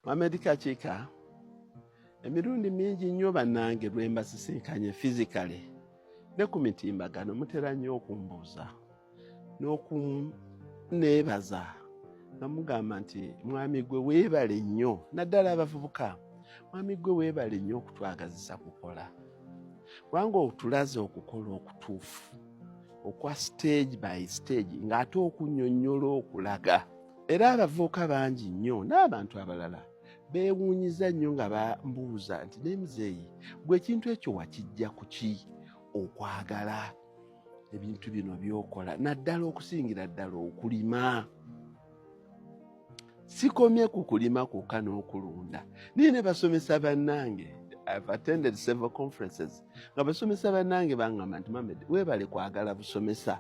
Mohamed Kakika emirundi mingi nnyo bannange lwe mbasisinkanye fizikale ne ku mitimbagano mutera nnyo okumbuuza n'okuneebaza nga mugamba nti mwami gwe weebale nnyo naddala abavubuka mwami gwe weebale nnyo okutwagazisa kukola kubanga otulaze okukola okutuufu okwa stage by stage ng'ate okunyonyola okulaga era abavubuka bangi nnyo n'abantu abalala beewuunyiza nnyo nga bambuuza nti naye muzeeyi gwe ekintu ekyo wakijja ku ki okwagala ebintu bino byokola naddala okusingira ddala okulima sikomye ku kulima kwokka n'okulunda naye ne basomesa bannange I've attended several conferences nga basomesa bannange bangamba nti mamed weebale kwagala busomesa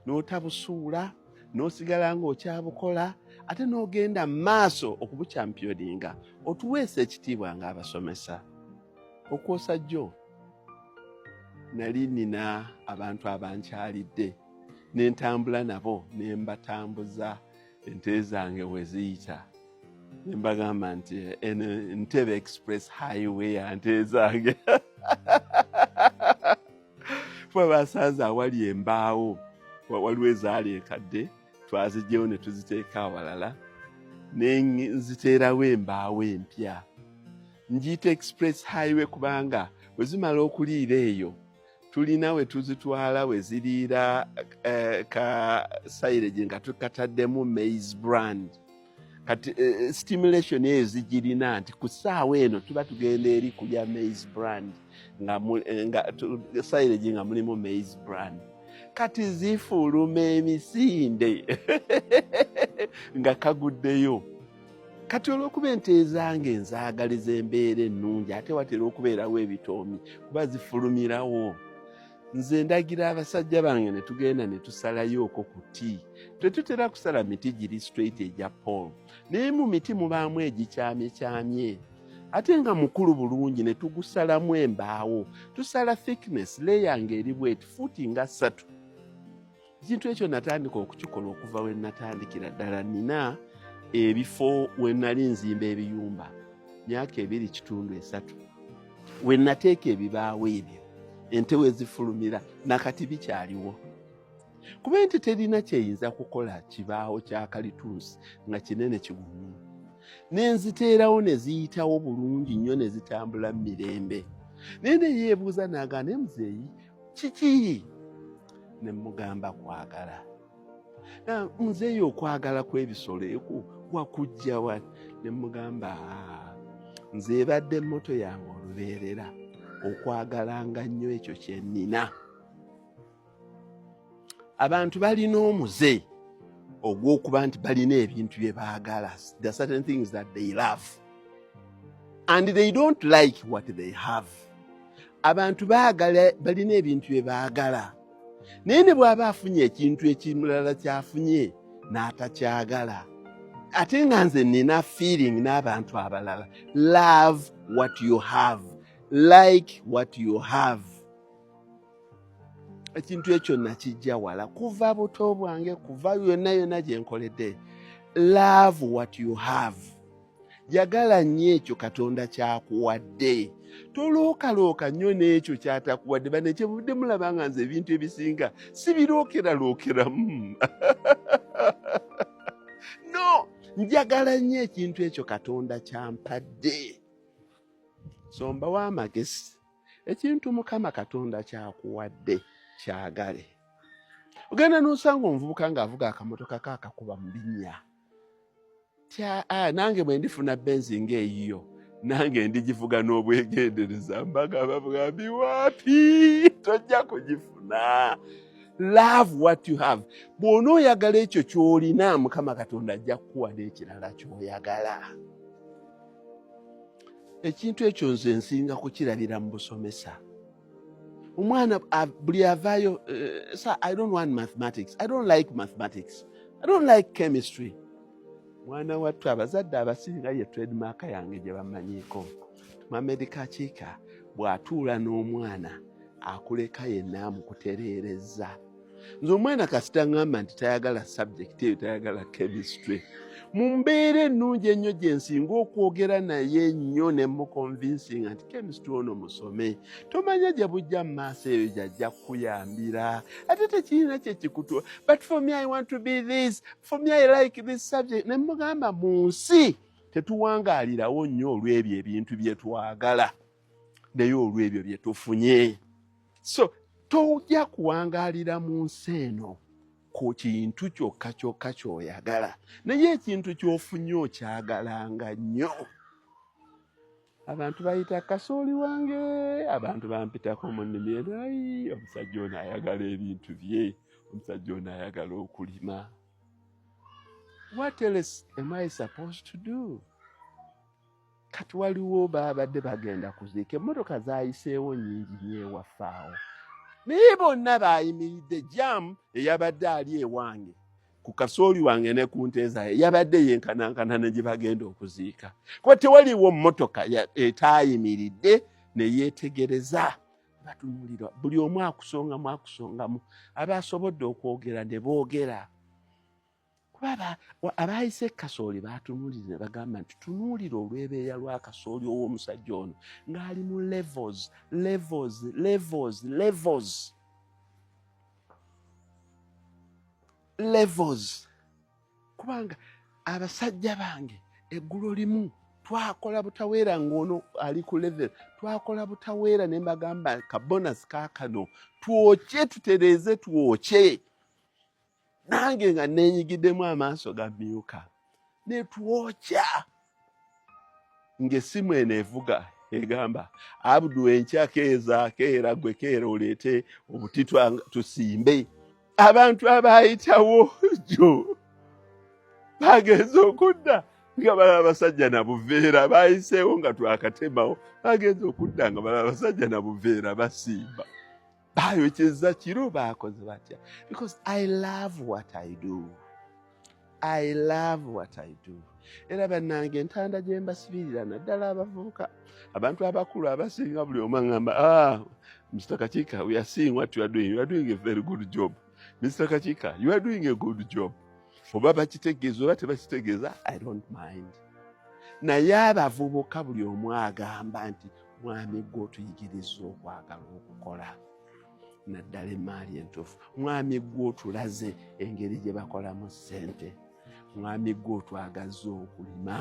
n'otabusuula no n'osigala ng'okyabukola ate n'ogenda mu maaso okubukyampiyodinga otuweesa ekitiibwa ng'abasomesa okwosa jjo nali nina abantu abankyalidde ne ntambula nabo ne mbatambuza ente zange we ziyita ne mbagamba nti eno ntebe express highway ya nte zange kuba basanze awali embaawo waliwo ezaali enkadde twazijjewo ne tuziteeka awalala ne nziteerawo embaawo empya njiyita express highway kubanga bwe zimala okuliira eyo tulina we tuzitwala we ziriira eh, ka sayireje nga tukataddemu mais brand kati eh, eh, stimulation eyo zigirina nti ku ssaawa eno tuba tugenda eri kulya maize brand nga eh, silage nga mulimu maize brand kati zifuluma emisinde nga kaguddeyo kati olw'okuba ente ezange nzaagaliza embeera ennungi ate watera okubeerawo ebitoomi kuba zifulumirawo nze ndagira abasajja bange ne tugenda ne tusalayo okwo ku ti tetutera kusala miti giri straight egya paul naye mu miti mubaamu egikyamyekyamye ate nga mukulu bulungi ne tugusalamu embaawo tusala thickness leya nga eri bweti fuuti nga ssatu ekintu ekyo natandika okukikola okuva we natandikira ddala nina ebifo we nali nzimba ebiyumba myaka ebiri kitundu esatu we nateeka ebibaawo ebyo ente we zifulumira nakati bikyaliwo kuba ente terina kyeyinza kukola kibaawo kya kalitunsi nga kinene kigumu nenziteerawo ne ziyitawo bulungi nnyo ne zitambula mu mirembe naye neyeebuuza naagaane muzeeyi kiki ne mugamba kwagala nzeeyo okwagala kw'ebisolo eku wakujja wa ne mugamba ah, nze ebadde moto yange olubeerera okwagalanga nnyo ekyo kye nnina abantu balina omuze ogw'okuba nti balina ebintu bye baagala the certain things that they love and they don't like what they have abantu baagala balina ebintu bye baagala naye ne bw'aba afunye ekintu ekimulala kyafunye n'atakyagala ate nga nze nina feeling n'abantu abalala love what you have like what you have ekintu ekyo nakijja wala kuva buto bwange kuva yonna yonna gye nkoledde love what you have yagala nnyo ekyo katonda kyakuwadde tolookalooka nnyo n'ekyo kyatakuwadde bane kyebudde mulaba nga nze ebintu ebisinga sibirookeralookeramu no njagala nnyo ekintu ekyo katonda kyampadde sombawo amagezi ekintu mukama katonda kyakuwadde kyagale ogenda nosanga omuvubuka ngaavuga akamotoka ka akakuba mu binnya tya ah, nange bwe ndifuna benzi ngaeyiyo nange ndigivuga n'obwegendereza mbaga babwambi wapi tojja kugifuna love what you have bw'ona oyagala ekyo ky'olina mukama katonda ajja kukuwa n'ekirala ky'oyagala ekintu ekyo nze nsinga kukirabira mu busomesa omwana buli avaayo eh, sa i don't want mathematics i don't like mathematics i don't like chemistry mwana wattu abazadde abasinga ye tredmark yange gye bamanyiiko mamedikakiika bw'atuula n'omwana akuleka yenna amukutereerezza nze omwana kasita ngamba nti tayagala subject eyo tayagala chemistry mu mbeera ennungi ennyo gye nsinga okwogera naye nnyo ne mukonvinsinga nti kemistry ono musome tomanya gye bujja mu maaso eyo gyajja kukuyambira ate tekirina kye kikutwa but for me i want to be this for me i like this subject ne mugamba mu nsi tetuwangaalirawo nnyo olw'ebyo ebintu bye twagala naye olw'ebyo bye tufunye so tojja kuwangaalira mu nsi eno ku kintu kyokka kyokka ky'oyagala naye ekintu ky'ofunye okyagalanga nnyo abantu bayita kasooli wange abantu bampitako mu nnimi eno ayi omusajja ono ayagala ebintu bye omusajja ono ayagala okulima what else am i supposed to do kati waliwo babadde bagenda kuziika emmotoka zayiseewo nyingi nyewaffe awo naye bonna bayimiridde jamu eyabadde ali ewange ku kasooli wange ne ku nteezaye yabadde yenkanankana ne gye bagenda okuziika kuba tewaliwo mmotoka etaayimiridde ne yeetegereza batunulira buli omu akusongamu akusongamu abaasobodde okwogera ne boogera kulaba abaayise kasooli baatunuulira ne bagamba nti tunuulira olwebeeya lwa kasooli ow'omusajja ono ng'ali mu levels levels levels levels levels kubanga abasajja bange eggulo limu twakola butaweera ng'ono ali ku level twakola butaweera ne mbagamba kabonasi kaakano twokye tutereeze twokye nange nga nenyigiddemu amaaso ga myuka netwokya ng'essimu eno evuga egamba abdu enkya keeza keera gwe keera oleete obuti tusimbe abantu abaayitawo jjo bagenze okudda nga balaba basajja na buveera baayiseewo nga twakatemawo bagenze okudda nga balaba basajja na buveera basimba bayokyeza kiro bakoze batya because i love what i do i love what i do era bannange entanda gye mbasibirira naddala abavubuka abantu abakulu abasinga buli omu aŋamba ah, mr kakika we are seeing what you are doing you are doing a very good job mr kakika you are doing a good job oba bakitegeeza oba tebakitegeeza i don't mind naye abavubuka buli omu agamba nti mwami gwe otuyigiriza okwagala okukola naddala emaali entuufu mwami gwe otulaze engeri gye bakolamu ssente mwami gwe otwagazza okulima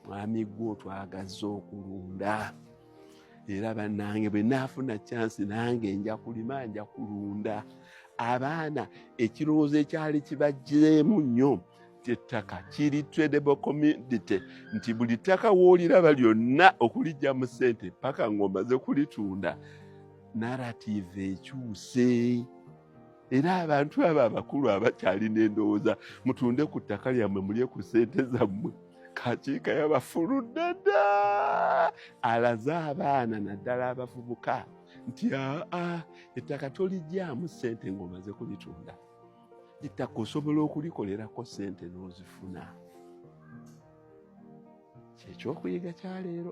mwami gwe otwagazza okulunda era bannange bwe naafuna kyansi nange nja kulima nja kulunda abaana ekirowoozo ekyali kibajjireemu nnyo ettaka kiri tradable community nti buli ttaka wooliraba lyonna okulijja mu ssente paka ng'omaze kulitunda narrative ekyuse era abantu abo abakulu abakyalina endowooza mutunde ku ttaka lyammwe mulye ku ssente zammwe kakiika yabafuludde dda alaze abaana naddala abavubuka nti aa ettaka tolijjamu ssente ng'omaze kulitunda ettaka osobola okulikolerako sente n'ozifuna kyekyokuyiga kyaleero